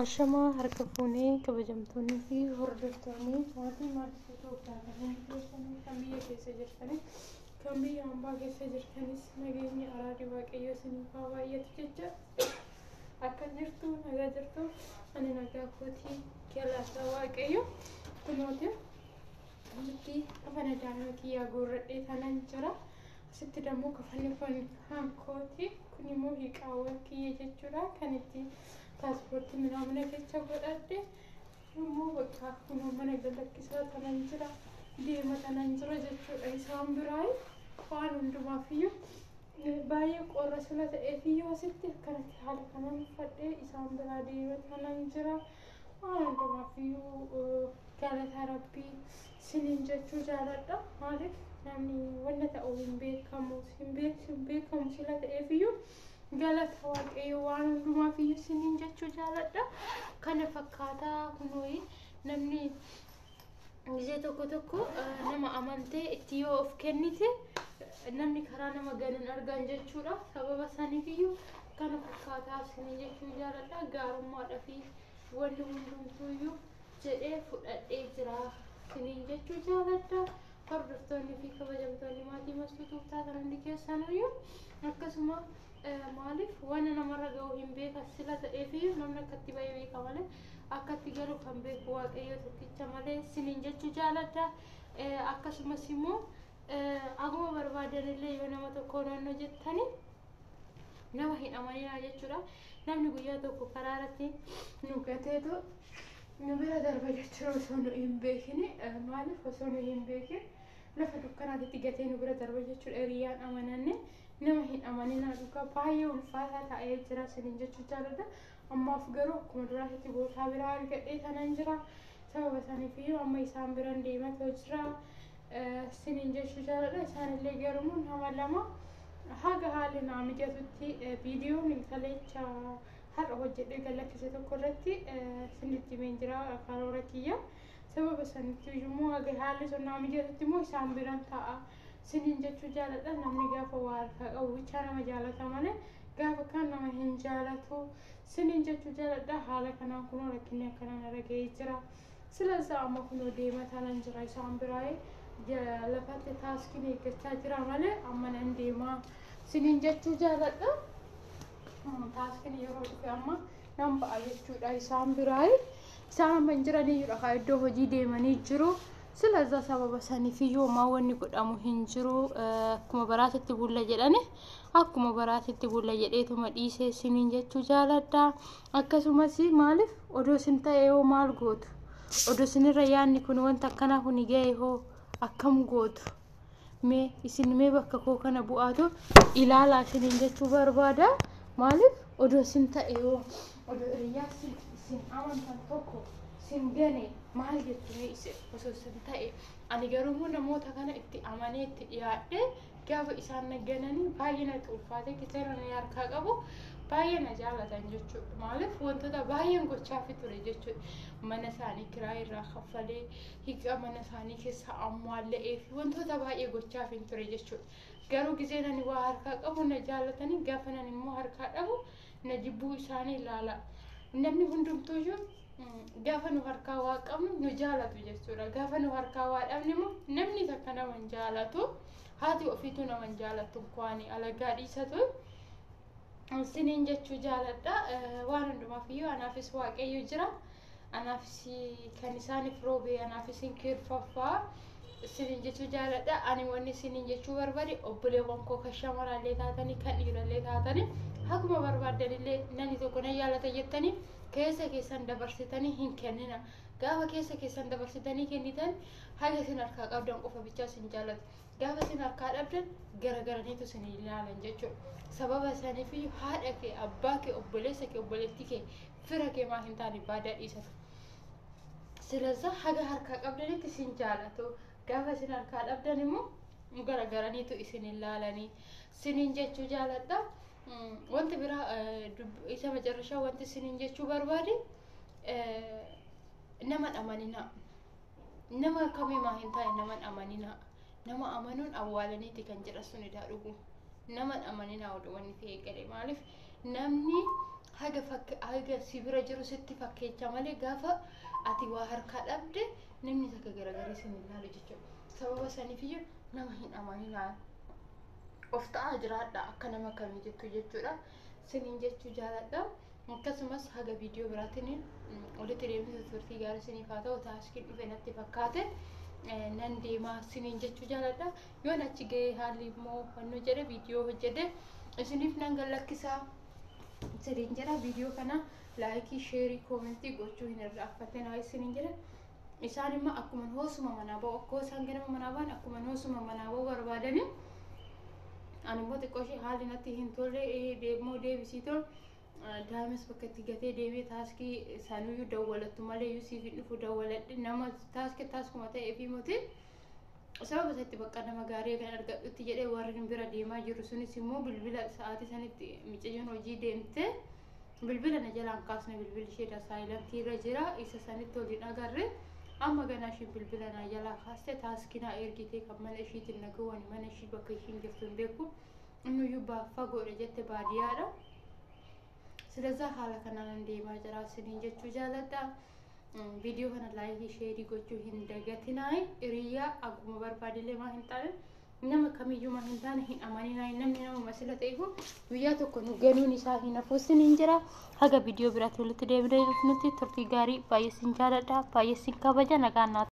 Ashamaa harka fuunee kabajamtoonni fi hordoftoonni maatii maatii Itoophiyaa kanneen keessanii kan biyya keessa jirtanii kan biyya hambaa keessa jirtanis nageenyi araadi waaqayyo isiniif haa baay'atu jecha akka jirtu nagaa jirtu ani nagaa kootii galaataa waaqayyo kunooti Asitti kafana daa'ima kiyyaa guurradhee tanan jira. Asitti dammoo kafanni kun hankooti. Kun immoo hiiqaawwan kiyya jechuudha. Kan itti paaspoortii minaamina keessa godhadhe. Immoo bakka kunoo mana galakkisaa tanan jira. Deema tanan jira jechuudha. Isaan biraa waan hundumaafiyyuu baay'ee qorra sila ta'eefiyyuu asitti akkanatti haala kanan uffadhee isaan biraa deema tanan jira. Haa hundumaaffiyyuu galata rabbii sinin jechuu jaaladha maalif namni wanna ta'u hin beekamu hin beek- hin beekamu sila ta'eefiyyuu galata waaqayyo waan hundumaaffiyyuu sinin jechuu jaaladha kana fakkaataa kunooyi namni Gisee tokko tokko nama amantee itti yoo of kennite namni karaa nama ganuun argan jechuudha. Sababa saniifiyyuu kana fakkaataa isinii jechuu jaaladha. Gaarummaadhaa fi wanni hundumtuuyyuu jedhee fudhadhee jira isiniin jechuu jaaladha. Hordoftoonni fi kabajamtoonni maatii mastuu tuuftaa kan hundi keessanuyyuu akkasuma Maaliif wanna namarra ga'u hin beeka sila ta'eefiyyuu namni akka itti ba'e beeka malee akka itti galu kan beeku waaqayyoo tokkicha malee siniin jechuu jaaladha. Akkasumas immoo aguma barbaadanillee yoo nama tokko naannoo jettanii nama hin amaninaa jechuudha. Namni guyyaa tokko karaa irratti nu gateetu nu bira darba jechuudha osoo nu hin beekini maaliif osoo nu hin beekin lafa dukkanaatitti gatee nu bira darba jechuudha hiriyaan amananne. Nama hin amaninaa dhugaa baay'ee ulfaataa ta'ee jira isiniin jechuu jaaladha. Ammaaf garuu akkuma duraatitti bootaa biraa argadhee tanan jira. Sababa saniifiyyuu amma isaan biran deematoo jira isiniin jechuu jaaladha. Isaanillee garuu nama lama haga haalli naa mijatutti viidiyoon kaleecha har'a hojjedhee gallakkise tokko irratti isinitti himeen jira karoora kiyya. Sababa sanitti immoo haga haalli sun naa mijatutti immoo isaan biran ta'a. siniin jechuu jaaladha namni gaafa waa harkaa qabu bichaa nama jaalata malee gaafa kaan nama hin jaalatu siniin jechuu jaaladha haala kanaan kunoo rakkinni akkanaan irra ga'ee jira sila isaa amma kunoo deema taanan jira isaan biraa'ee ja- lafatti taaskiin eeggachaa jira malee amma nan deema siniin jechuu jaaladha Mm, taaskiin yeroo dhufe amma nan ba'a jechuudha isaan biraa'ee isaan amma hin jiraniyyudha kaa iddoo hojii deemanii jiru Silaza sababa sanifi yooma wanni godhamu hin jiru akkuma baraatitti bulla jedhani akkuma baraatitti bulla jedheetuma dhiisee siniin jechuu jaaladha akkasumas maaliif odoo sin ta'e yoo maal gootu odoo sinirra yaanni kun wanta akkanaa kun ga'e hoo akkam gootu mee isin mee bakka koo kana bu'aatu ilaalaa isiniin jechuu barbaada maaliif odoo isin ta'e yoo odoo hiriyaa isin isin amantan tokko isin gane maal jettu mee isin osoo isin ta'e ani garuu namoota kana itti amanee itti dhiyaadhe gaafa isaan na gananii baay'ee natti ulfaate kichara na harkaa qabu baay'ee na jaalatan jechuudha maaliif wantoota baay'een gochaafi ture jechuudha mana isaanii kiraa irraa kaffalee higaa mana isaanii keessaa ammaalla'ee fi wantoota baay'ee gochaaf hin ture jechuudha. Garuu gizeen ani waa harkaa qabu na jaalatanii gaafa nan immoo harkaa dhabu na jibbuu isaanii ilaala. Namni hundumtuuyyuu gaafa nu harkaa waa qabnu nu jaalatu jechuudha. Gaafa nu harkaa waa dhabne immoo namni takka nama hin jaalatu. Haati ofiitu nama hin jaalatu kwaani alagaa dhiisatu. Siniin jechuu jaaladha. Waan hundumaaf iyyuu anaafis waaqayyo jira. anaafis kan isaaniif roobee anaaf isin kiirfaffaa isiniin jechuu jaaladha ani wanni isiniin jechuu barbaade obboleewwan koo kan shamaraallee taatanii kan dhiirallee taatanii akkuma barbaaddanillee namni tokko nan yaalata jettanii keessa keessan dabarsitanii hin kennina gaafa keessa keessan dabarsitanii kennitan haga isin harkaa qabdan qofa bichaa isin jaalatu gaafa isin harkaa dhabdan garagaraniitu isin ilaalan jechuudha sababa isaaniif haadha kee abbaa kee obboleessa kee obboleettii kee fira kee maa hin taane baadaa dhiisatu silazaa haga harkaa qabdanitti isin jaalatu gaafa isin harkaa dhabdan immoo garagaraniitu isin hin laalanii sinin jechuu jaaladha wanti biraa isa macarrashaa wanti sinin jechuu barbaade nama dhamaninaa nama akkamii maa hin taane naman amaninaa nama amanuun awwaalaniiti kan jedha sun idaa dhugu naman amaninaa oduu wanni ta'e gale maaliif namni haga fakk haga si bira jiru sitti fakkeecha malee gaafa ati waa harkaa dhabde namni takka garagarii sin hin laalu jechuudha sababa saniifiyyu nama hin amaninaa of ta'aa jiraadha akka nama kamii jettu jechuudha sinin jechuu jaaladha Akkasumas haga viidiyoo biraatiin walitti deemisa turtii gaarii isiniif haa ta'u taaskiin dhufe natti fakkaate nan deemaa isiniin jechuu jaaladha. Yoon achi ga'ee haalli immoo hannoo jedhe viidiyoo hojjedhe isiniif nan gallakkisaa isiniin jedha viidiyoo kana laayikii sheerii koomentii gochuu hin irraanfatinaa isiniin jedha. Isaan immoo akkuma hoosuma manaa ba'u akkoo isaan ganama manaa ba'an akkuma hoosuma manaa ba'u barbaadanii ani immoo xiqqoo ishee haalli natti hin tolle deebimoo deebisii tole. daa'imas bakka itti gatee deemee taaskii sanuyyuu dawwalattu malee iyyuu siif hin dhufu dawwaladhe nama taaskii taaskuma ta'ee fi mootii sababa isatti bakka nama gaarii kan argadhutti jedhee warri nu bira deemaa jiru sunis immoo bilbila sa'aatii sanitti micayyoon hojii deemte bilbila na jalaan kaasne bilbilli ishee dasaayilantii irra jira isa sanitti waliin agarre amma ganaa isheen bilbila na jalaa kaaste taaskii na ergitee kan mana ishiitiin na gowwani mana ishii bakka ishiin jirtu hin beeku Innuyyuu baaf fagoodha jette baadiyaadha. Silazaa haala kanaan deemaa jira isiniin jechuu jaaladha. Viidiyoo kana laayikii sheerii gochuu hin dagatinaa. Hiriyaa akkuma barbaadillee maa hin taane nama kamiyyuu maa hin taane hin amaninaa. Namni namuma sila ta'e kun guyyaa tokko nu ganuun isaa hin hafu isiniin jira. Haga viidiyoo biraatti walitti deebinee nuti turtii gaarii baay'ee sin jaaladha. Baay'ee sin kabaja nagaan naaf.